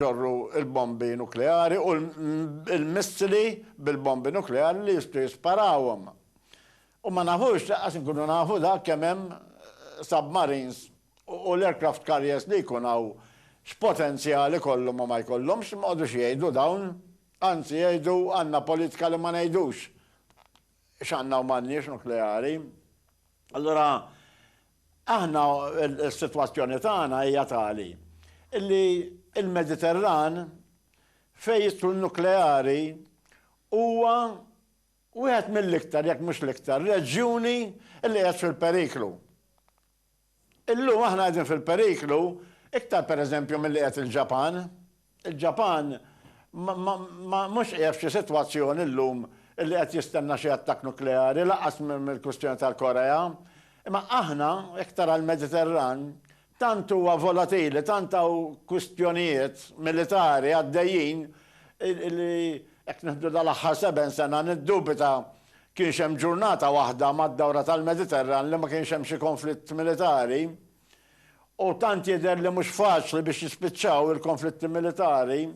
ġorru l-bombi nukleari u l-missili bil-bombi nukleari li jistgħu jisparawhom. U ma nafux, laqqas inkunu nafu dak kemm hemm submarines u l-aircraft carriers li jkun hawn x'potenzjal ikollhom u ma jkollhomx, ma jqogħdux jgħidu dawn. Anzi jgħidu għandna politika li ma ngħidux. x'għandna u m'għandniex nukleari. Allura aħna s-sitwazzjoni tagħna hija tali illi il-Mediterran fejn jidħlu n-nukleari huwa wieħed mill-iktar jekk mhux l-iktar reġjuni li qed fil-periklu. Illum aħna qegħdin fil-periklu iktar pereżempju milli qiegħed il-Ġapan. Il-Ġapan ma mhux qiegħed f'xi sitwazzjoni llum illi qed jistenna xi attakk nukleari, lanqas mill-kwistjoni tal-Korea. Imma aħna, iktar għall-Mediterran, tant huwa volatili, tant hawn kwistjonijiet militari għaddejjin illi jekk nieħdu dal-aħħar seben sena niddubita Kienx hemm ġurnata waħda mad-dawra tal-Mediterran li ma kienx hemm xi konflitt militari, u tant jidher li mhux faċli biex jispiċċaw il-konflitti militari,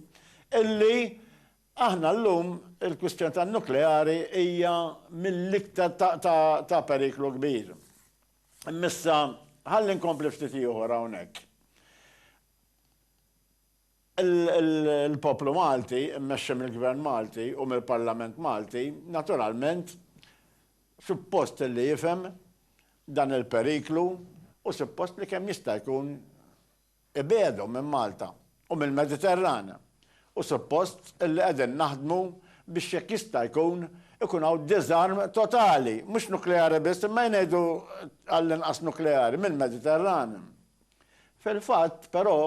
illi aħna llum il-kwistjoni tan-nukleari hija mill-iktar ta' periklu kbir. Imma issa ħalli nkompli ftit ieħor hawnhekk. Il-poplu Malti, immexxi mill-Gvern Malti u mill-Parlament Malti, naturalment, suppost li jifhem dan il-periklu u suppost li kemm jista' jkun ibiegħdu minn Malta u mill-Mediterran. U suppost li qegħdin naħdmu biex jekk jista' jkun ikun hawn diżarm totali, mhux nukleari biss, imma jnejdu għall-inqas nukleari, mill-Mediterran. Fil-fatt, però,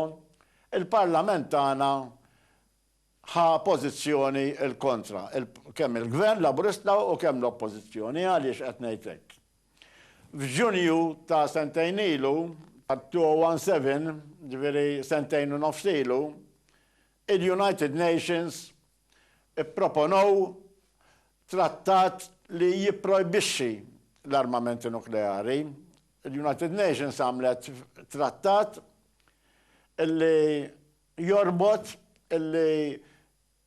il-Parlament tagħna ħa pożizzjoni l-kontra, kemm il-Gvern Laburista u kemm l-Oppożizzjoni. Għaliex qed ngħid hekk? F'Ġunju ta' sentejn ilu, tat-2017, ġifieri sentejn u nofs ilu, il-United Nations ipproponew trattat li jipprojbixxi l-armamenti nukleari Il-United Nations għamlet trattat illi jorbot illi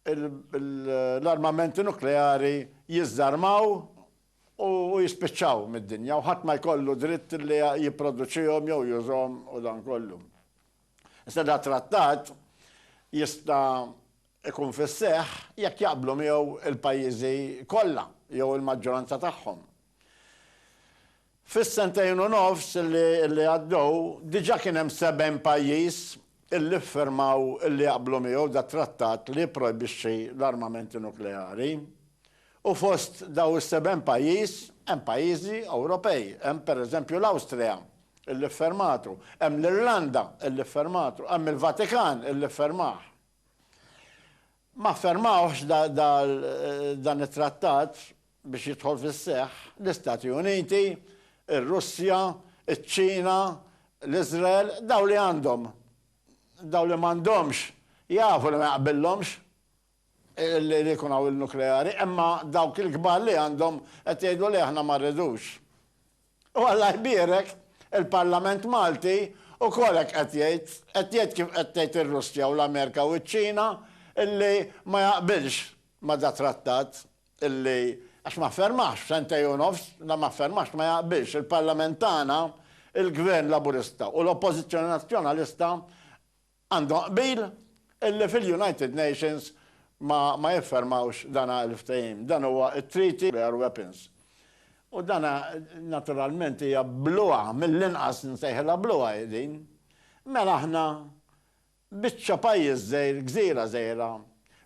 l-armamenti nukleari jiżżarmaw u jispiċċaw mid-dinja u ħadd ma jkollu dritt li jipproduċihom jew jużhom u dan kollu. Issa da trattat jista' ikun fis-seħħ jekk jaqblu miegħu il-pajjiżi kollha jew il-maġġoranza tagħhom. Fis-sentejn u nofs li għaddew, diġà kien hemm 70 pajjiż li ffirmaw li jaqblu miegħu dat-trattat li jipprojbixxi l-armamenti nukleari. U fost dawn is-70 pajjiż hemm pajjiżi Ewropej. Hemm, pereżempju, l-Awstrija li ffirmatu, hemm l-Irlanda li ffirmatu, hemm il-Vatikan li ffirmah. Ma ffirmawhx dan it-trattat biex jidħol fis-seħħ l-Istati Uniti, ir-Russja, iċ-Ċina, l-Iżrael, dawk li għandhom. Dawk li m'għandhomx jafu li ma jaqbillhomx li jkun hawn il-nukleari, imma dawk il-kbar li għandhom qed jgħidu le aħna ma rridux. U Alla jbierek, il-Parlament Malti ukoll hekk qed jgħid, qed jgħid kif qed tgħid ir-Russja u l-Amerika u ċ-Ċina illi ma jaqbilx ma' dat-trattat illi, għax ma ffirmahx f'sentejn u nofs, la ma ffirmahx, ma jaqbilx il-Parlament tagħna, il-Gvern Laburista u l-Oppożizzjoni Nazzjonalista Għandhom qbil illi fil-United Nations ma ma jiffermawx dana il-ftehim. Dan huwa t-Treaty Nuclear Weapons. U dana naturalment hija bluha, mill-inqas nsejħilha bluha hi din. Mela aħna biċċa pajjiż żgħir, gżira żgħira,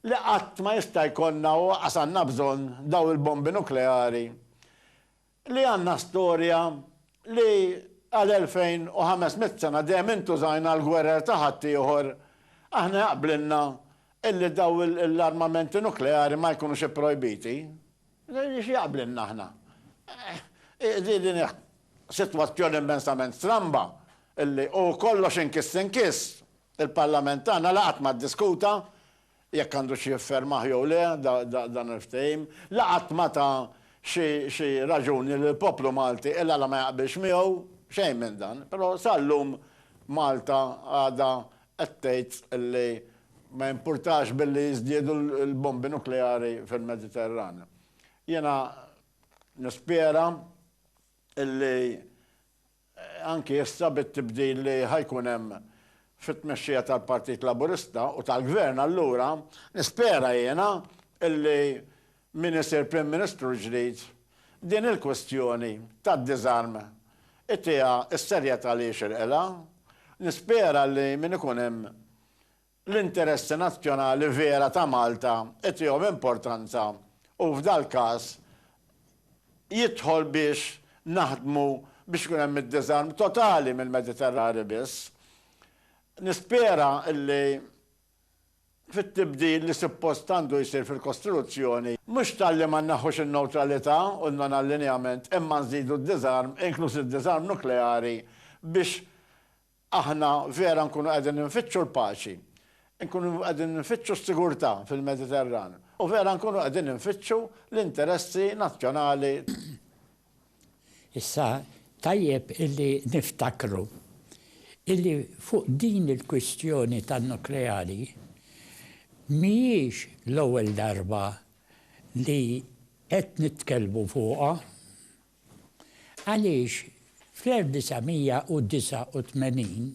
li qatt ma jista' jkollna u qas għandna bżonn dawn il-bombi nukleari li għandna storja li għal 2,500 sena dejjem intużajna għall-gwerer ta' ħaddieħor, aħna jaqblilna illi daw l-armamenti nukleari ma jkunux ipprojbiti. X'jaqblilna aħna? Din hi sitwazzjoni immensament stramba illi u kollox inkiss inkiss il-Parlament tagħna la qatt ma ddiskuta jekk għandux jiffermah jew le dan il-ftehim, la qatt ma ta xi raġuni lill-poplu Malti il-għala ma jaqbilx miegħu, xejn minn dan, però sal-lum Malta għadha qed tgħid li ma jimpurtax billi jiżdiedu l-bombi nukleari fil-Mediterran. Jiena nispera illi anki issa bit-tibdil li ħa jkun hemm fit-tmexxija tal-Partit Laburista u tal-Gvern allura nispera jiena illi min isir Prim Ministru l-ġdid din il-kwistjoni tad-diżarm itieha s-serjetà li jixirqilha. Nispera li min ikun hemm l-interessi nazzjonali vera ta' Malta itihom importanza u f'dal-każ jidħol biex naħdmu biex ikun hemm id-diżarm totali mill-Mediterrani biss. Nispera illi fit-tibdil li suppost għandu jsir fil-Kostituzzjoni, mhux talli ma nneħħux in-newtralità u n-non-allinjament imma nżidu d-diżarm, inkluż id-diżarm nukleari, biex Aħna vera nkunu qegħdin infittxu l-paċi, nkunu qegħdin infittxu s-sigurtà fil-Mediterran u vera nkunu qegħdin infittxu l-interessi nazzjonali tagħna. Issa tajjeb illi niftakru illi fuq din il-kwistjoni tan-nukleari mhijiex l-ewwel darba li qed nitkellmu fuqha. Għaliex fl-1989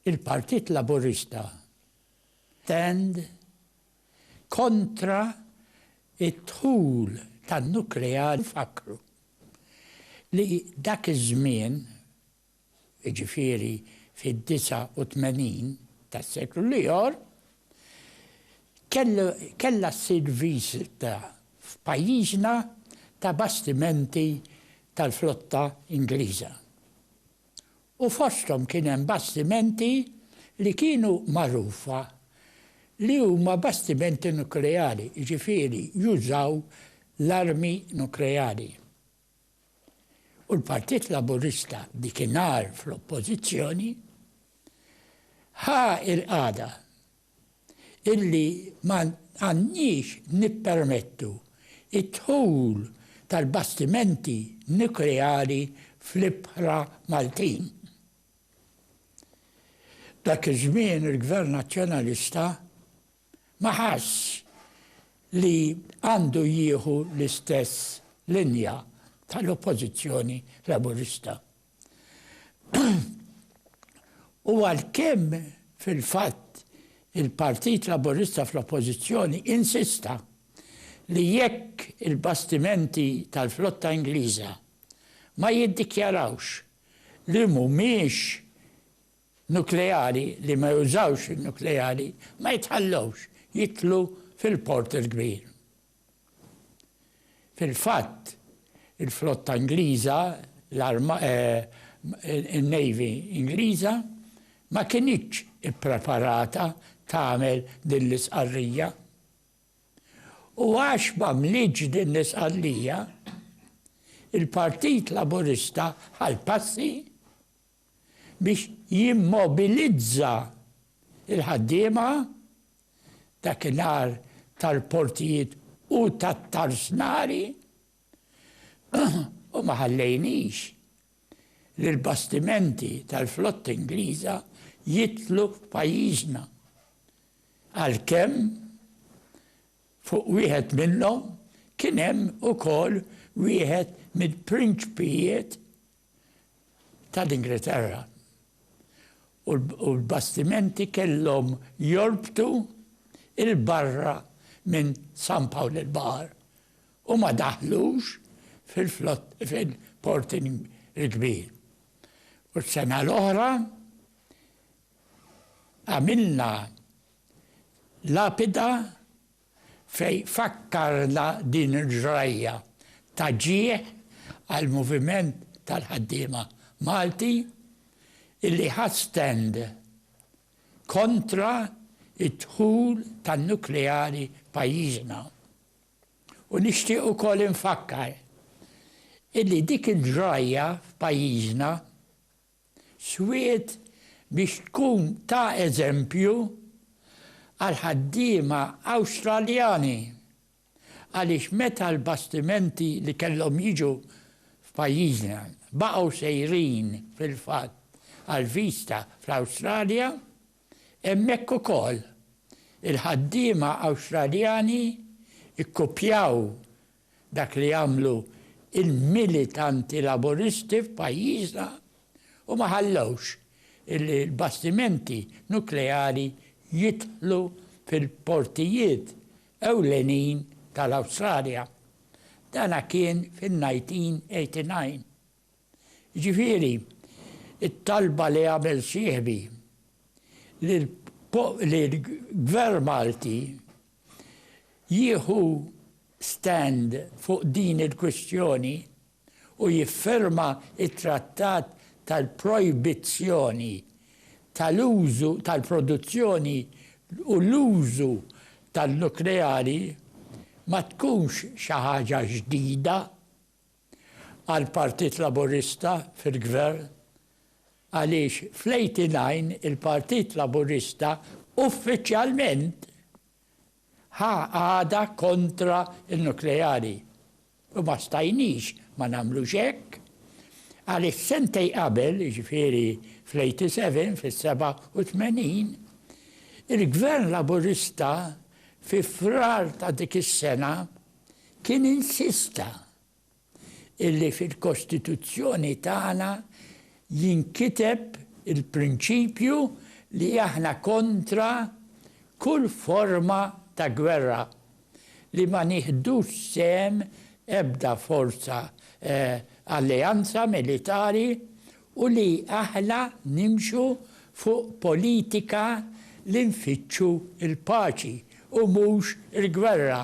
il-Partit Laburista stand kontra d-dħul tan-nukleari u fakkru li dak iż-żmien jiġifieri fid-89 tas-seklu l-ior, kellu kellha ssir viżita f'pajjiżna ta' bastimenti tal-flotta Ingliża. U fosthom kien hemm bastimenti li kienu magħrufa li huma bastimenti nukleari, jiġifieri jużaw l-armi nukleari. U l-Partit Laburista dikinhar fl-Oppożizzjoni ħa l-qagħda illi ma għandniex nippermettu d-dħul tal-bastimenti nukleari fl-ibħra Maltin. Dak iż-żmien il-Gvern Nazzjonalista ma ħassx li għandu jieħu l-istess linja tal-Oppożizzjoni Laburista. U għalkemm fil-fatt il-Partit Laburista fl-Oppożizzjoni insista li jekk il-bastimenti tal-flotta Ingliża ma jiddikjarawx li mhumiex nukleari li ma jużawx in-nukleari ma jitħallewx jidħlu fil-Port il-Kbir. Fil-fatt, il-flotta Ingliża, in-Navy Ingliża, ma kinitx ippreparata tagħmel din l-istqarrija. U għax m'għamlitx din l-istqarrija, il-Partit Laburista ħa l-passi, biex jimmobilizza l-ħaddiema dakinhar tal-portijiet u tat-tarsnari u ma ħallejniex li l-bastimenti tal-flotta Ingliża jidħlu f'pajjiżna għalkemm fuq wieħed minnhom kien hemm ukoll wieħed mill-prinċpijiet tal-Ingilterra u l-bastimenti kellhom jorbtu 'l barra minn San Pawl il-Baħar u ma daħlux fil-Port il-Kbir. U s-sena l-oħra għamilna lapida fejn fakkarna din il-ġrajja ta' ġieħ għall-moviment tal-ħaddiema Malti illi ħa stand kontra d-dħul tan-nukleari pajjiżna. U nixtieq ukoll infakkar illi dik il-ġrajja f'pajjiżna Swied biex tkun ta' eżempju għall-ħaddiema Awstraljani għaliex meta l-bastimenti li kellhom jiġu f'pajjiżna baqgħu sejrin fil-fatt għal Vista fl-Awstralja, hemmhekk ukoll il-ħaddiema Awstraljani kkupjaw Dak li għamlu l-militanti Laburisti f'pajjiżna u ma ħallewx li l-bastimenti nukleari jidħlu fil-portijiet ewlenin tal-Awstralja. Dan kien fin-1989. Jiġifieri, it-talba li għamel sieħbi li l-Gvern Malti jieħu stand fuq din il-kwistjoni u jiffirma t-trattat tal-projbizzjoni tal-użu, tal-produzzjoni u l-użu tan-nukleari ma tkunx xi ħaġa ġdida. għall-Partit Laburista fil-Gvern għaliex fl-89 il-Partit Laburista uffiċjalment ħa qagħda kontra n-nukleari u ma stajniex ma nagħmlux hekk għaliex sentejn qabel, jiġifieri fl-87, fis-87, il-Gvern Laburista fi Frar ta' dik is-sena, kien insista illi fil-Kostituzzjoni tagħna jinkiteb il-prinċipju li aħna kontra kull forma ta' gwerra, li ma nieħdux sehem ebda forza, alleanza militari u li aħna nimxu fuq politika li nfittxu l-paċi u mhux il-gwerra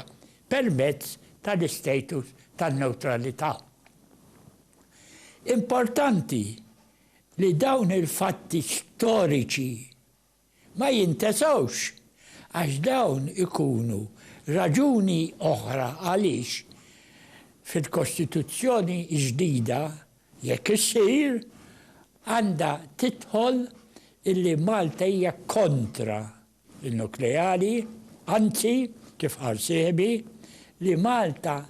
permezz tal-istatus tan-newtralità. Importanti li dawn il-fatti storiċi, ma jintesgħux, għax dawn ikunu raġuni oħra għaliex fil-Kostituzzjoni ġdida, jekk issir, għandha tidħol illi Malta hija kontra n-nukleari, anzi, kif qal sieħbi, li Malta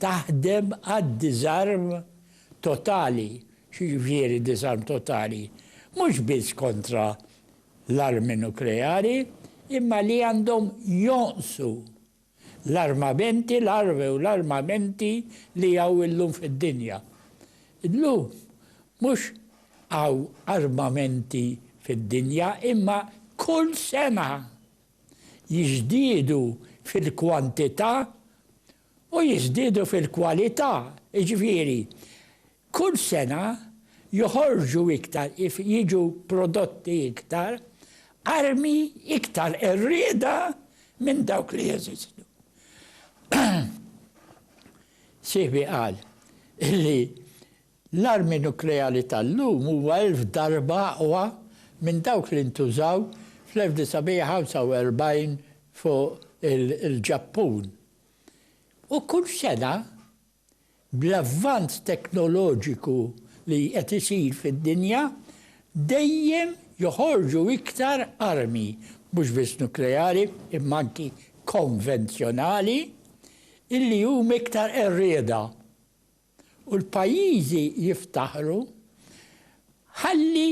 taħdem għad-diżarm totali, x'jiġifieri diżarm totali, mhux biss kontra l-armi nukleari, imma li għandhom jonqsu l-armamenti, l-armi u l-armamenti li hawn illum fid-dinja. Illum mhux hawn armamenti fid-dinja, imma kull sena jiżdiedu fil-kwantità U jiżdiedu fil-kwalità, jiġifieri, kull sena joħorġu iktar, jiġu prodotti iktar armi iktar qerrieda minn dawk li jeżistu. Sieħbi qal li L-armi nukleari tal-lum huwa elf darba aqwa minn dawk li ntużaw fl-1945 fuq il-Ġappun. U kull sena, bl-avvanz teknoloġiku li qed isir fid-dinja, dejjem joħorġu iktar armi, mhux biss nukleari imma anki konvenzjonali, illi huma iktar qerrieda. u l-pajjiżi jiftaħru, ħalli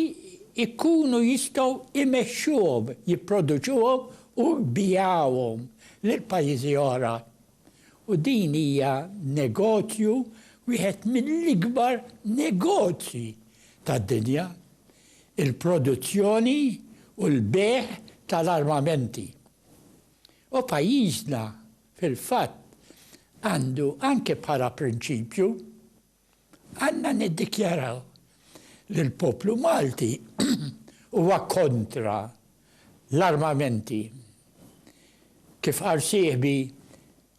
jkunu jistgħu jmexxuhom, jipproduċuhom u jbigħuhom lil pajjiżi oħra. U din hija negozju, wieħed mill-ikbar negozji tad-dinja, il-produzzjoni u l-bejgħ tal-armamenti. U pajjiżna Fil-fatt, għandu anke bħala prinċipju, għandna niddikjaraw li l-poplu Malti huwa kontra l-armamenti. Kif qal sieħbi,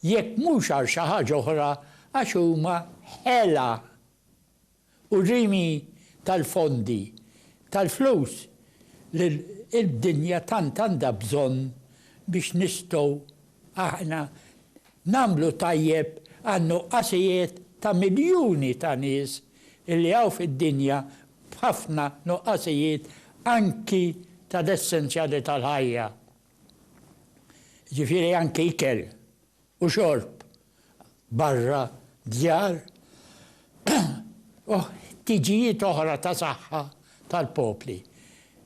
jekk mhux għal xi ħaġa oħra għax huma ħela. u rimi tal-fondi tal-flus li d-dinja tant għandha bżonn biex nistgħu aħna nagħmlu tajjeb għan-nuqqasijiet ta' miljuni ta' nies li hawn fid-dinja b'ħafna nuqqasijiet anki tal-essenzjali tal-ħajja, jiġifieri anki ikel. u xorb barra d-djar u ħtiġijiet oħra ta' saħħa tal-popli,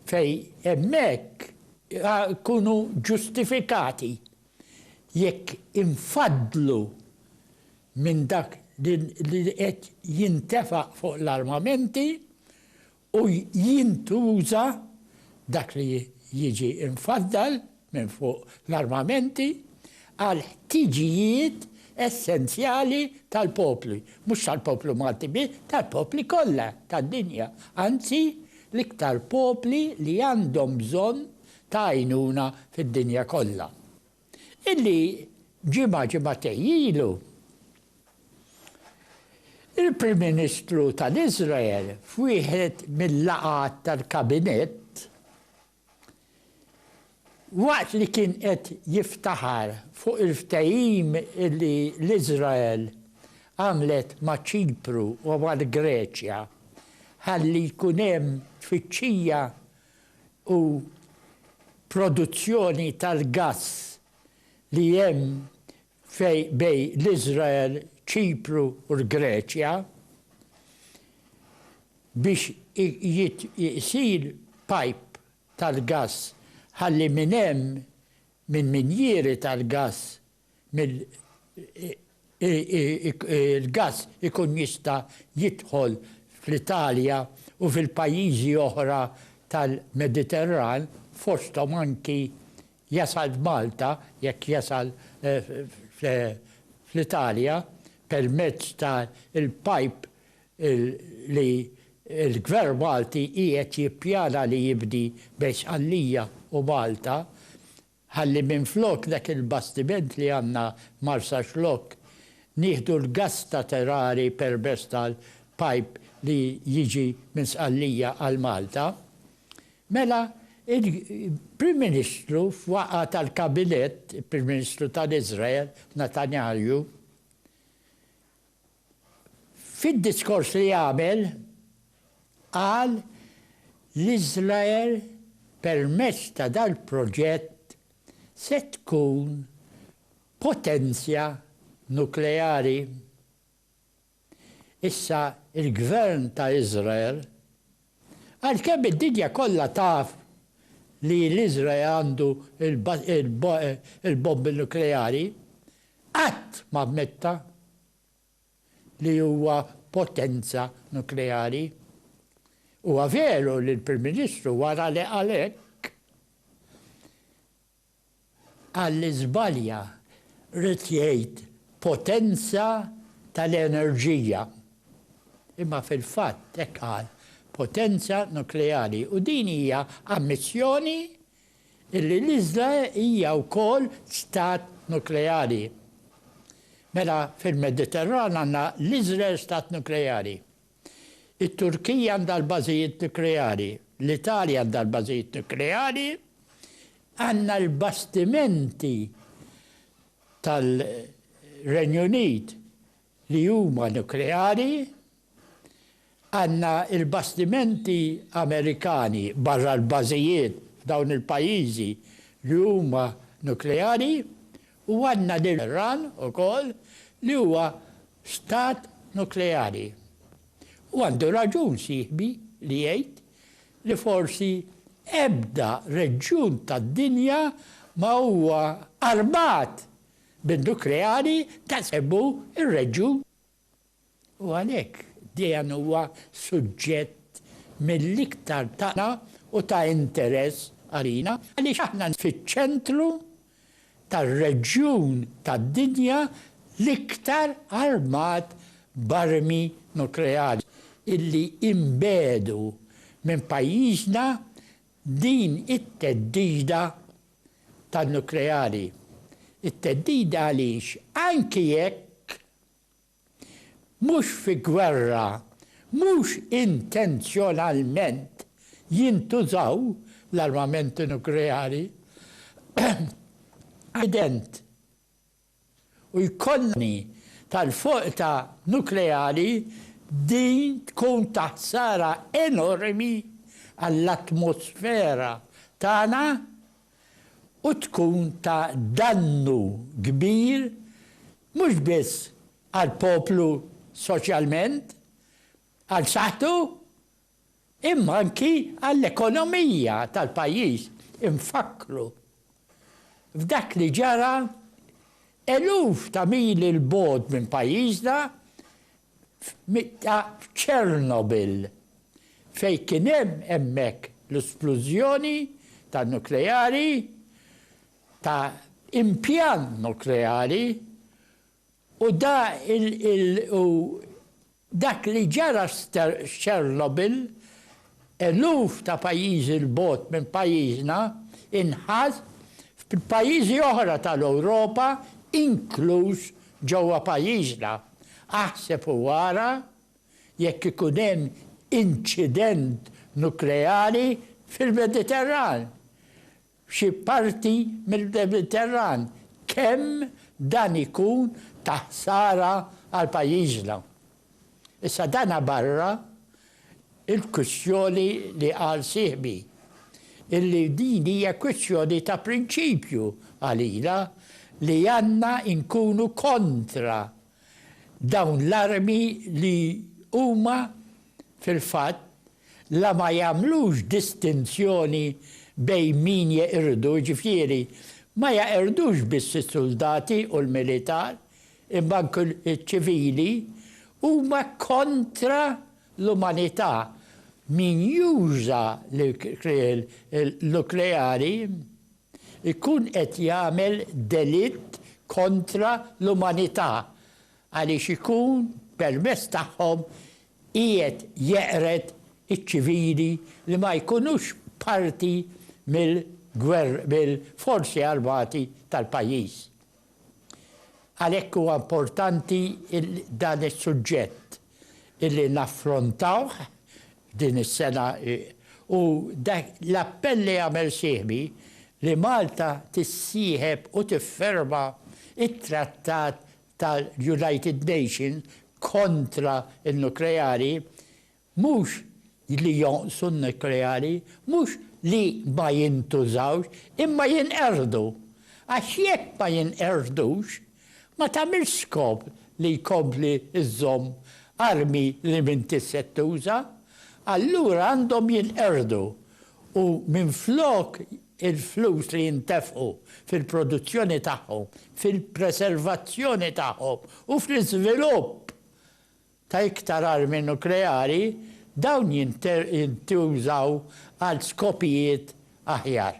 fejn hemmhekk ikunu ġustifikati, jekk infaddlu minn dak li qed jintefa' fuq l-armamenti u jintuża dak li jiġi mfaddal minn fuq l-armamenti għall-ħtiġijiet essenzjali tal-popli, mhux tal-poplu Malti biss, tal-popli kollha tad-dinja, anzi l-iktar popli li għandhom bżonn ta' għajnuna fid-dinja kollha. illi ġimgħa ġimgħatej ilu il-Prim Ministru tal-Iżrael f'wieħed mil-laqgħat tal-Kabinett waqt li kien qed jiftaħar fuq il-ftehim li l-Iżrael għamlet ma' Ċipru u mal-Greċja ħalli jkun hemm tfittxija u produzzjoni tal-gass li hemm bej l-Iżrael, Ċipru u l-Greċja biex isir pajp tal-gass ħalli minn hemm, minn minjieri tal-gass mill il-gass ikun jista' jidħol fl-Italja u fil-pajjiżi oħra tal-Mediterran, fosthom anki jasal f'Malta, jekk jasal fl-Italja, permezz ta' l-pipe li l-Gvern Malti qiegħed jippjana li jibni bejn Sqallija u Malta, Ħalli minflok dak il-bastiment li għandna Marsaxlokk nieħdu l-gass ta' Terari permess tal-pipe li jiġi minn Sqallija għal Malta. Mela il-Prim Ministru f'waqgħa tal-Kabinett, il-Prim Ministru tal-Iżrael, Natanjahju, Fid-diskors li għamel, qal li Iżrael permezz ta' dal-proġett se tkun potenzja nukleari. Issa l-Gvern ta' Iżrael, Għalkemm id-dinja kollha taf li l-Iżrael għandu l-bombi nukleari, qatt ma ammetta li huwa potenza nukleari. Huwa veru li l-Prim Ministru wara li qal hekk, Qal li żbalja, ried jgħid potenza tal-enerġija. Imma fil-fatt hekk qal, potenza nukleari. U din hija ammissjoni li l-iżla hija wkoll stat nukleari. Mela fil-Mediterran għandna l-Iżrael stat nukleari. It-Turkija għandha l-bażijiet nukleari, l-Italja għandha l-bażijiet nukleari, għandna l-bastimenti tal-Renju Unit li huma nukleari, għandna l-bastimenti Amerikani barra l-bażijiet f'dawn il-pajjiżi li huma nukleari U għandna lil Iran ukoll li huwa stat nukleari. U għandu raġun sieħbi li jgħid li forsi ebda reġjun tad-dinja ma huwa armat bin-nukleari daqshekk hu r-reġjun. U għalhekk Dejan huwa suġġett mill-iktar tagħna u ta' interess għalina għaliex aħna fiċ-ċentru tar-reġjun tad-dinja l-iktar armat b'armi nukleari illi inbegħdu minn pajjiżna din it-theddida tan-nukleari. It-theddida għaliex anki jekk mhux fi gwerra, mhux intenzjonalment jintużaw l-armamenti nukleari, evident, u jkollna tal-foqta nukleari din tkun ta' ħsara enormi għall-atmosfera tagħna u tkun ta' dannu kbir mhux biss għall-poplu soċjalment, għal saħħtu, imma anki għall-ekonomija tal-pajjiż. Infakkru f'dak li ġara eluf ta' mili 'l bogħod minn pajjiżna f'Mitta f'Chernobyl, fejn kien hemm hemmhekk l-isplużjoni ta' nukleari ta' impjant nukleari u da u dak li ġara f'Chernobyl Eluf ta' pajjiżi 'l bogħod minn pajjiżna inħatt f'pajjiżi oħra tal-Ewropa inkluż ġewwa pajjiżna. Aħseb u ara jekk ikun hemm inċident nukleari fil-Mediterran. f'xi parti mill-Mediterran, kemm dan ikun ta' ħsara għal pajjiżna. Issa dana barra l-kwistjoni li qal sieħbi, illi din hija kwistjoni ta' prinċipju għalina li għandna nkunu kontra Dawn l-armi li huma, fil-fatt, la ma jagħmlux distinzjoni bejn min jeqirdu, jiġifieri ma jeqirdux biss is-suldati u l-militar, imma anke ċ-ċivili, huma kontra l-umanità. Min juża l-ikrieħ nukleari, ikun qed jagħmel delitt kontra l-umanità għaliex ikun permezz tagħhom qiegħed jeqred iċ-ċivili li ma jkunux parti mill-forzi armati tal-pajjiż. Għalhekk huwa importanti dan is-suġġett illi naffrontawh din is-sena u dak l-appell li għamel sieħbi li Malta tissieħeb u tifferma t-Trattat tal-United Nations kontra n-Nukleari Mhux li jonqsu n-nukleari, mhux li ma jintużawx, imma jinqerdu. Għax jekk ma jinqerdux, ma tagħmilx skop li jkompli żżomm armi li m'intix se tuża. Allura għandhom jinqerdu u minflok il-flus li jintefqu fil-produzzjoni tagħhom, fil-preservazzjoni tagħhom u fl-iżvilupp ta' iktar armi nukleari, dawn jintużaw għal skopijiet aħjar.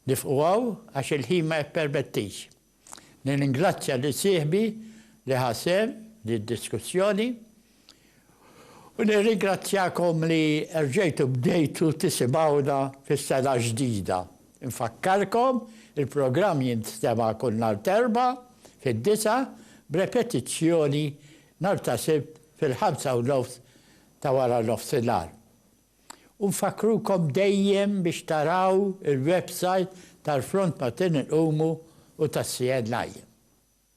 Nifqu hawn għax il-ħin ma jippermettix. Nirringrazzja lil sieħbi li ħa sehem f'did-diskussjoni u nirringrazzjakom li erġejtu bdejtu tisimgħuna fis-sena ġdida. Infakkarkom, il-programm jinstema' kull nhar t'Erbgħa fid-disgħa b'repetizzjoni nhar ta' Sibt fil-ħamsa u nofs ta' wara nofsinhar. U nfakkrukom dejjem biex taraw il-websajt tal-Front Matin Inqumu u tas-CNI.